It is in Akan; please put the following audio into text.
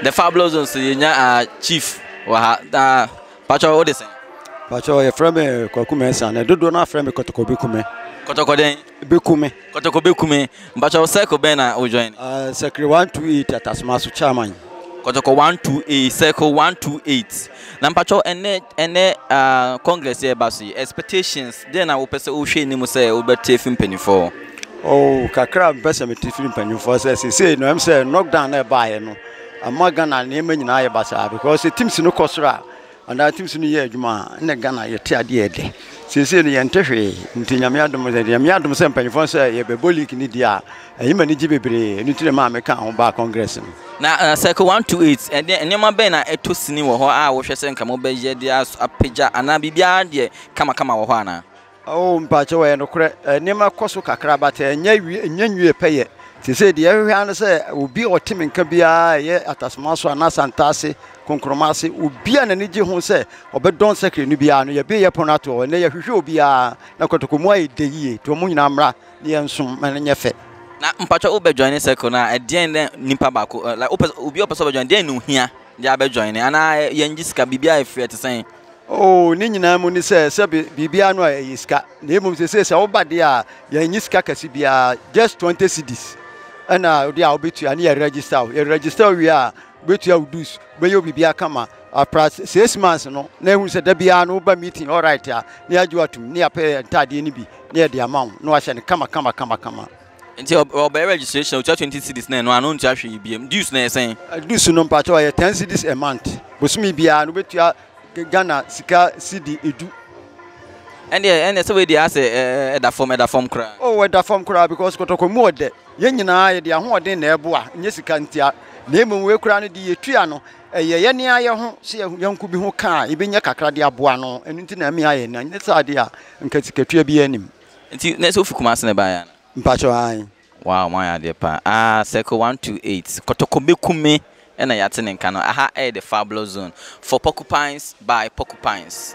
The Fabulous Zone so yɛnya uh, ah, chief wɔ ha. Uh, ah, patwɛ wode sɛn? Patwɛ yɛfrɛ me Kwaku Mɛnsa na dodoɔ no afrɛ me Kɔtɔkɔ Bɛkume. Kɔtɔkɔ dɛn? Bɛkume. Kɔtɔkɔ Bɛkume. Mpatwɛ wo circle bɛn na wo join? Uh, circle 128 Atasoma so chairman. Kɔtɔkɔ 128 circle 128. Na mpatwɛ ɛnɛ ɛnɛ uh, congress yɛ ba so yi expectations Dɛn na wopɛ sɛ wohwɛ anim sɛ wobɛte afi mpanyimfoɔ hɔ? Oh, kakra a mepɛ sɛ mete firi mpanyimfoɔ hɔ sɛ seesei no ɛm sɛ knockdown na ɛbaeɛ no ama Ghana nneɛma nyinaa yɛ basaa because sɛ teams no kɔ soro a anaa teams no yɛ adwuma a ɛna Ghana yɛte adeɛ ɛdɛ seesei no yɛnte hwee nti nyame adom sɛ nyame adom sɛ mpanyimfoɔ sɛ yɛbɛbɔ league no deɛ a ɛyɛ ma ne gye bebree ɛno nti na maa meka ho baa congress no na uh, circle 1 to 8 ɛdeɛ nneɛma bɛn na ɛtɔ sini wɔ hɔ a wohwɛ sɛ nka mobɛyɛ de apagya anaa biribiara deɛ kamakama wɔ hɔ anaa? Oh, mpakyɛw, ɛyɛ nokorɛ, nneɛma kɔ so kakra, but ɛnyɛ wie, ɛnyɛ nwie pɛyɛ. Seesei deɛ yɛhwehwɛ ara ne sɛ obi a ɔte me nka biara, ɛyɛ Atasoma so anaa Santa ase, Konkroma ase, obi a n'ani gye ho sɛ ɔbɛdɔn Sacred no biara no, yɛabue yɛn pon ato hɔ ɛnnɛ, yɛhwehwɛ obiara, na Kotoko mu ayɛ dɛ yie, nti wɔn nyinaa mmra na yɛnsom ma no nyɛ fɛ. Na mpakyɛw wo bɛ joine Circle no a, ɛdeɛn na nipa baako, like, wopɛ, obi a ɔpɛ sɛ ɔbɛ joine, deɛn na ohia de abɛ joine, anaa yɛngye sika, biribiara yɛ free, ɛte sɛn? Oh, ne nyinaa mu ne sɛ sɛ biribiara no a ɛyɛ sika. Na mmom sese sɛ woba deɛ a yɛnyi sika kɛse biara just 20 cedis. Ɛna ɔde a wobɛtua ne yɛ register wo. Yɛ register wo wie a wobɛtua wo dues, wobɛyɛ wo biribiara kama. Apra six months no na ɛhunu sɛ da biara no woba meeting alright a na yɛagye wo atom ne yɛapɛ ntaadeɛ no bi na yɛde ama wo na wahyɛ no kama kama kama kama. Nti ɔbɛyɛ registration otua twenty cedis na ɛno ano ontua hwee biem dues na ɛsɛn. Dues no mpatsɔ ɔyɛ ten cedis a month bosomi biara no obetua Ghana sika cedi edu. Ɛndeɛ ɛndeɛ sɛ wei deɛ asɛ ɛda fam ɛda fam koraa. Oh ɛda fam koraa because kɔtɔkɔ mu ɔdɛ yɛn nyinaa yɛde ahoɔden na ɛboa nyɛ sika ntia na emom wei koraa no de yɛtua no ɛyɛ yɛn nan ayɛ ho sɛ yɛnko bi ho kaa yɛbɛnya kakra de aboa no ɛno nti na ɛmea yɛn nan nyɛ saa deɛ a nka sikatua biara nim. Nti na sɛ wofi Kumasi na ɛbaeɛ anaa? Mpakyɛw, aane. Wow mo ayɛ adeɛ paa aah circle one two eight kɔtɔkɔ bɛku me na yɛate ne nka no aha ɛyɛ the fabulous zone for porcupines by porcupines.